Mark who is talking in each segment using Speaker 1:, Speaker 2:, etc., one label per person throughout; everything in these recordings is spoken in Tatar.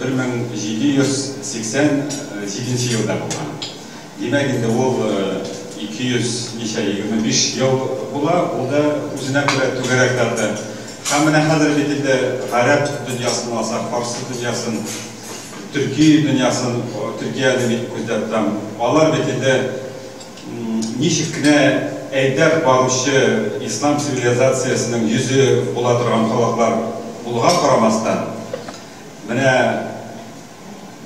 Speaker 1: 1787 елда булган. Димәк, инде ул 200 ничә, 25 ел була, ул да үзенә күрә түгәрәк дата. Һәм менә хәзер бит инде гарәп дөньясын алсак, фарсы дөньясын, төрки дөньясын, Төркияне бит күздә тотам, алар бит инде ничек кенә әйдәп баручы ислам цивилизациясенең йөзе була торган халыклар булуга карамастан, Менә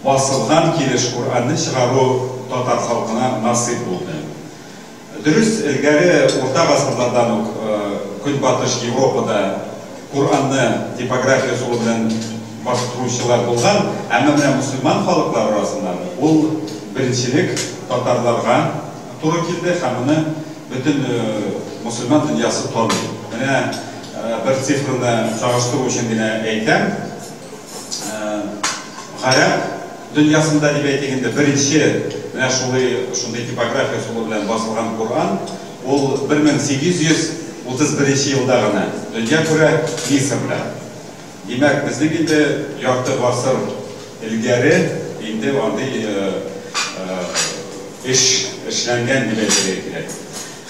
Speaker 1: басылган килеш Куранны чыгару татар халкына насыйп булды. Дөрес, элгәре урта гасырлардан ук Көнбатыш Европада Куранны типография ысулы белән бастыручылар булган, әмма менә мөселман халыклар арасында ул беренчелек татарларга, Туры килде һәм моны бөтен мөселман дөньясы таный. Менә бер цифрны чагыштыру өчен генә әйтәм, гарәп дөньясында, дип әйтик инде, беренче менә шулый шундый типография ысулы белән басылган Коръән, ул 1831 елда гына дөнья күрә Мисырда. Димәк, безнең инде ярты гасыр элгәре инде андый эш эшләнгән дип әйтергә кирәк.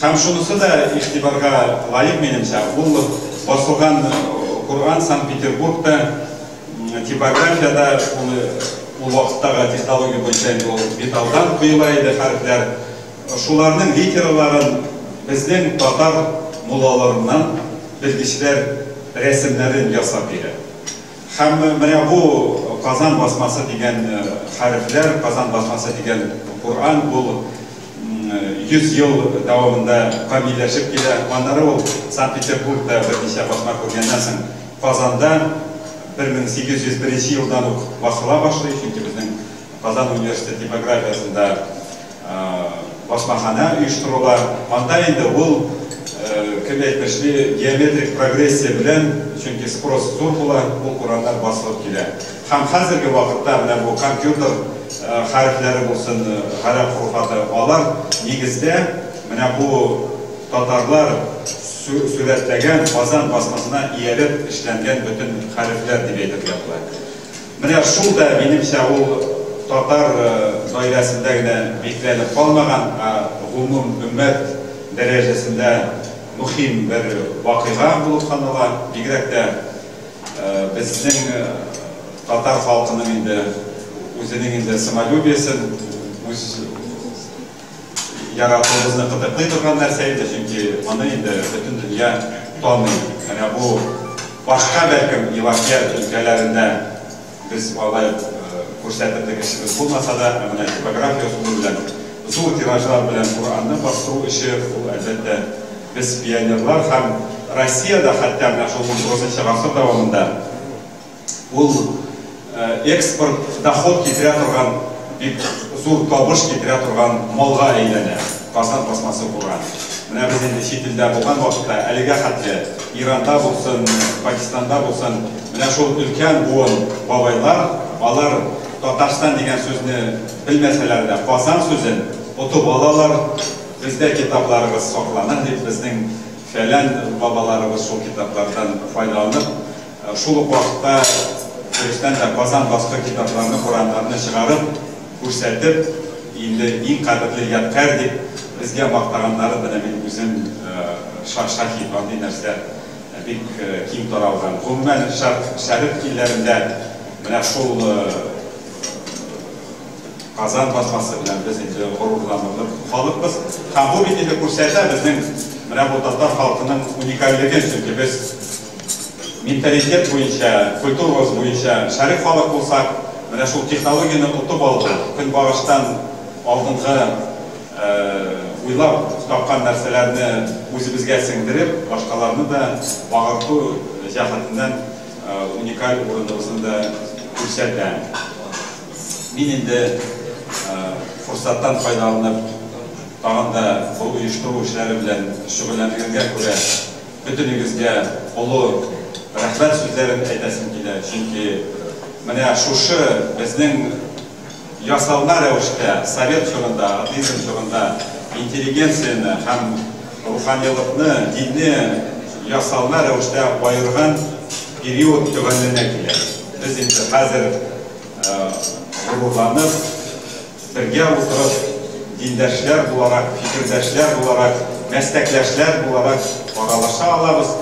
Speaker 1: Һәм шунысы да игътибарга лаек, минемчә, ул басылган Коръән Санкт-Петербургта, типографиядә, ул вакыттагы технология буенча инде ул металлдан коела иде хәрефләр. Шуларның видеоларын безнең татар муллаларыннан белгечләр рәсемнәрен ясап бирә. Һәм менә бу Казан басмасы дигән хәрефләр, Казан басмасы дигән Коръән ул 100 ел дәвамында камилләшеп килә. Аннары ул Санкт-Петербургта берничә басма күргәннән соң Казанда 1801 елдан ук басыла башлый, чөнки безнең Казан университеты типографиясендә басмаханә оештырыла. Анда инде ул, кем әйтмешли, геометрик прогрессия белән, чөнки спрос зур була, ул урамнар басылып килә. Һәм хәзерге вакытта менә бу компьютер хәрефләре булсын, гарәп хурфаты, алар нигездә менә бу татарлар сурәтләгән Казан басмасына иялеп эшләнгән бөтен хәрефләр дип әйтергә була. Менә шул да, минемчә, ул татар даирәсендә генә бикләнеп калмаган, ә гомум өммәт дәрәҗәсендә мөхим бер вакыйга булып санала. Бигрәк тә безнең татар халкының инде үзенең инде самолюбиесен, үз Яратуыбызны кытыклый торган нәрсә инде, чөнки моны инде бөтен дөнья таный. Менә бу башка, бәлкем, Елакият өлкәләрендә без алай ук күрсәтер дип эшебез булмаса да, ә менә типография ысулы белән зур тиражлар белән Коръәнне бастыру эше, ул, әлбәттә, без, пионерлар һәм Россиядә хәтта менә шул XIX гасыр дәвамында, Ул экспорт, доход китерә торган, бик зур табыш китерә торган малга әйләнә, Казан пластмассы курган. Менә без инде чит илдә булган вакытта, әлегә хәтле Иранда булсын, Пакистанда булсын, менә шул өлкән буын бабайлар, алар Татарстан дигән сүзне белмәсәләр дә, Казан сүзен отып алалар, бездә китапларыбыз саклана, дип, безнең фәлән бабаларыбыз шул китаплардан файдаланып, Шул ук вакытта дөрестән дә Казан басты китапларны, Коръәннәрне чыгарып, күрсәтеп, инде иң кадерле ядкарь дип безгә мактаганнары менә мин үзем шаһит, андый нәрсә бик киң таралган. Гомумән, Шәрык илләрендә менә шул Казан басмасы белән без инде горурланырлык халыкбыз. Һәм бу бит инде күрсәтә безнең менә бу татар халкының уникальлеген, чөнки без Менталитет буенча, культурабыз буенча шәрык халык булсак, менә шул технологияне отып алды, көнбагыштан алдынгы уйлап тапкан нәрсәләрне үзебезгә сеңдереп, башкаларны да багырту җәһәтеннән уникаль урыныбызны да күрсәтә. Мин инде форсаттан файдаланып, тагын да бу оештыру эшләре белән шөгыльләнелгәнгә күрә, Бөтенегезгә олы рәхмәт сүзләрен әйтәсем килә, чөнки менә шушы безнең ясалма рәвештә совет чорында, атеизм чорында интеллигенцияне һәм руханилыкны, динне ясалма рәвештә аерган период төгәлләнә килә. Без инде хәзер горурланып. Бергә утырып, диндәшләр буларак, фикердәшләр буларак, мәстәкләшләр буларак аралаша алабыз.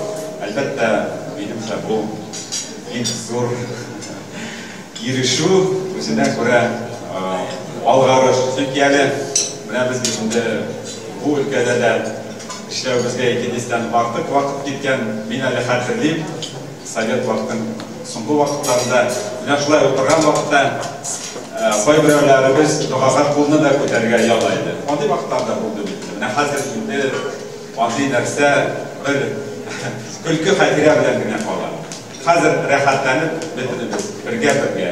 Speaker 1: Әлбәттә, минемчә, бу бик зур ирешү, үзенә күрә алгарыш. Чөнки әле менә без бит инде бу өлкәдә дә эшләвебезгә икедистән артык вакыт киткән. Мин әле хәтерлим, Совет вакытын соңгы вакытларда җашлай утырган вакытта кайберәүләребез догага кулны да күтәрергә яла иде. Андый вакытлар да булды бит. Менә хәзер инде андый нәрсә бер көлке хәтирә белән генә кала. Хәзер рәхәтләнеп бөтенебез бергә-бергә.